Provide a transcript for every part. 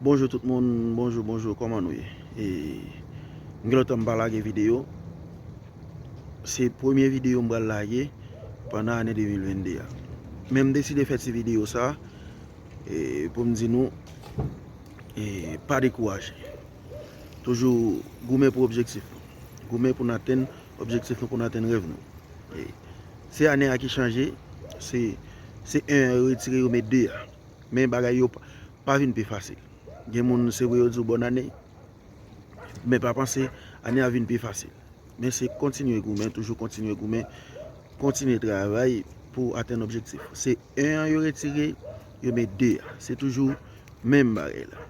Bonjou tout moun bonjou bonjou kòman nou ye e m gen lontan m pa lage video se premye video m pral lage pandan ane 2022 a men m deside fè ti video sa e pou m di nou e pa dekouraje toujou goumen pou objektif nou goumen pou n atenn objektif nou pou n atenn rèv nou e se ane a ki chanje se 1 an yo retire yo met 2 a. Men bagay yo pa vin pi fasil. Gen moun se vre yo di w bòn ane, men pa panse ane a vin pi fasil. Men se kontinye goumen, toujou kontinye goumen, kontinye travay pou w atenn objektif ou. Se 1 an yo retire, yo met 2 an. Se toujou menm bagay la.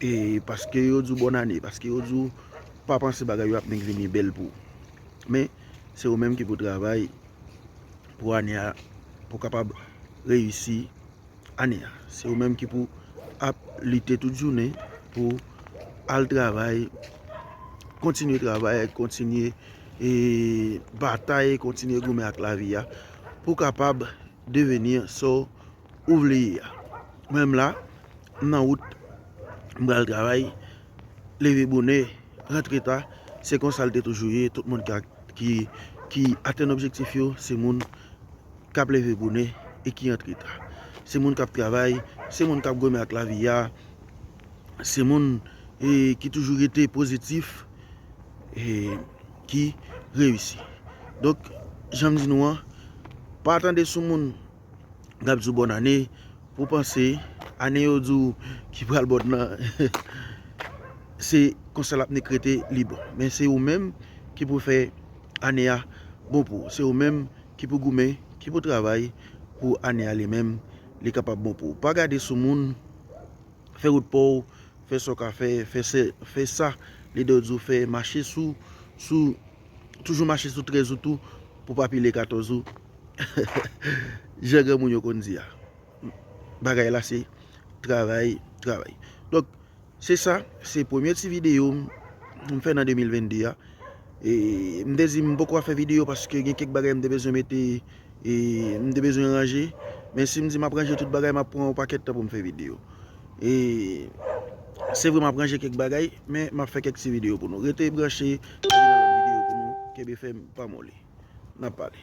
E paske yo di w bòn ane, paske yo di w pa panse bagay yo ap vin vini bèl pou ou. Men se ou menm ki pou travay pou ane a pou w kapab reyisi. ane a. Se yo menm ki pou ap lite tout jounen pou al travay, kontinye travay, kontinye batay, kontinye goumen ak lavi a pou kapab deveni sa ou vle ye a. Mwen menm la, m nan wout, m pral travay, leve bonè, rantre ta, se konsa l te toujou ye, tout moun ki atenn objektif yo, se moun. k ap leve bonè e ki antre ta, se moun k ap travay, se moun k ap goumen ak lavi a, se moun ki toujou rete pozitif e ki reyisi. Donk, jan m di nou an, pa tande sou moun k ap di w bòn ane pou panse ane yo di w ki pral bòn nan se konsa l ap nik rete li bon. Men se ou menm ki pou fè ane a bon pou ou. Se ou menm Ki pou goumen, ki pou travay pou ane a li menm li kapab bon pou ou. Pa gade sou moun, fè wout pa w, fè sa w ka fè, fè sa lidè w di w fè, mache sou, sou, toujou mache sou 13 ou tou pou w pa pile 14 ou, jan granmoun yo konn di a. Bagay la se travay, travay. Donk. Se sa, se premye ti video m m fè nan 2022 a e m te di m poko ap fè video paske gen kèk bagay m te bezwen mete e m te bezwen ranje men si m di m ap ranje tout bagay m ap pran yon pakèt tan pou m fè video e se vre m ap ranje kèk bagay men m ap fè kèk ti video pou nou rete branche pou gen lòt video pou nou kenbe fèm pa moli n ap pale.